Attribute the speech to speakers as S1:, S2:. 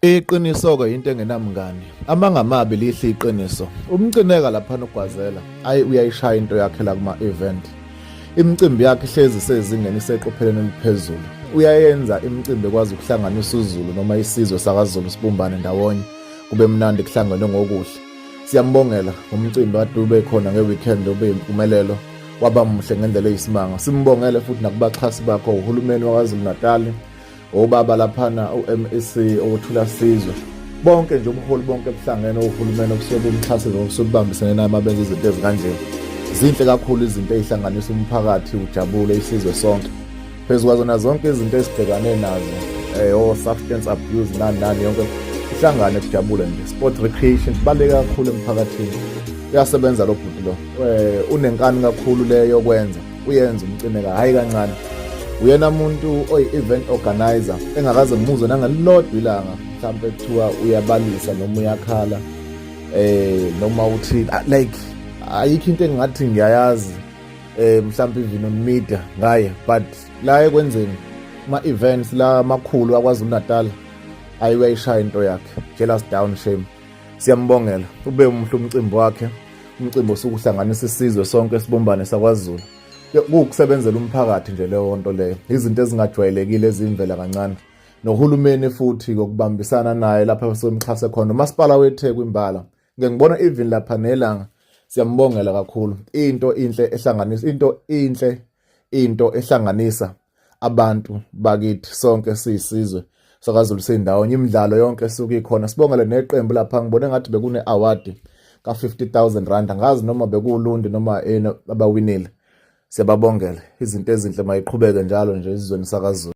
S1: Iqiniso ke into engenamngani. Amanga amabi lihle iqiniso. Umcineka lapha nogwazela. Ayi uyayishaya into yakhe la kuma event. Imicimbi yakhe ihlezi sezingeni iseqopheleni eliphezulu. Uyayenza imicimbi ekwazi ukuhlanganisa uZulu noma isizwe sakaZulu sibumbane ndawonye. Kube mnandi kuhlangenwe ngokuhle. Siyambongela ngomcimbi kade ube khona ngeweekend ube impumelelo waba muhle ngendlela eyisimanga. Simbongele futhi nakubaxhasi bakho uhulumeni waKwaZulu-Natali obaba laphana uMEC owothula sizwe bonke nje ubuholi bonke buhlangene ohulumeni okusuke bumxhase nokusuke kubambisene naye mabenza izinto ezikanje zinhle kakhulu izinto ezihlanganisa umphakathi ujabule isizwe sonke phezu kwazona zonke izinto ezibhekane nazo eh o substance abuse nani nani yonke ihlangane kujabule nje sport recreation baleka kakhulu emphakathini uyasebenza lo bhuti lo eh unenkani kakhulu leyo kwenza uyenza umcineka hhayi kancane uyena muntu oyi-event organizer engakaze ngimuzwe nangelilodwa ilanga mhlawumpe kuthiwa uyabalisa noma uyakhala eh noma uthi ah, like ayikho into engingathi ngiyayazi eh mhlawumpe even on media ngaye but la ekwenzeni ama-events la makhulu akwazi unatal ayiwayishaya into yakhe jealous down shame Siyambongela ube umhle umcimbi wakhe umcimbi osuke uhlanganisa isizwe sonke sibumbane sakwaZulu kuwukusebenzela umphakathi nje leyo nto leyo izinto ezingajwayelekile ezimvela kancane nohulumeni futhi ngokubambisana naye lapha basemxhase khona umasipala weTheku imbala ngeke ngibona even lapha nelanga siyambongela kakhulu into inhle ehlanganisa into inhle into ehlanganisa abantu bakithi sonke siyisizwe sakazulu sindawonye imidlalo yonke esuke ikhona sibongele neqembu lapha ngibone ngathi bekune award ka 50000 rand angazi noma bekulundi noma abawinile siyababongela izinto ezinhle mayiqhubeke njalo nje izweni sakazulu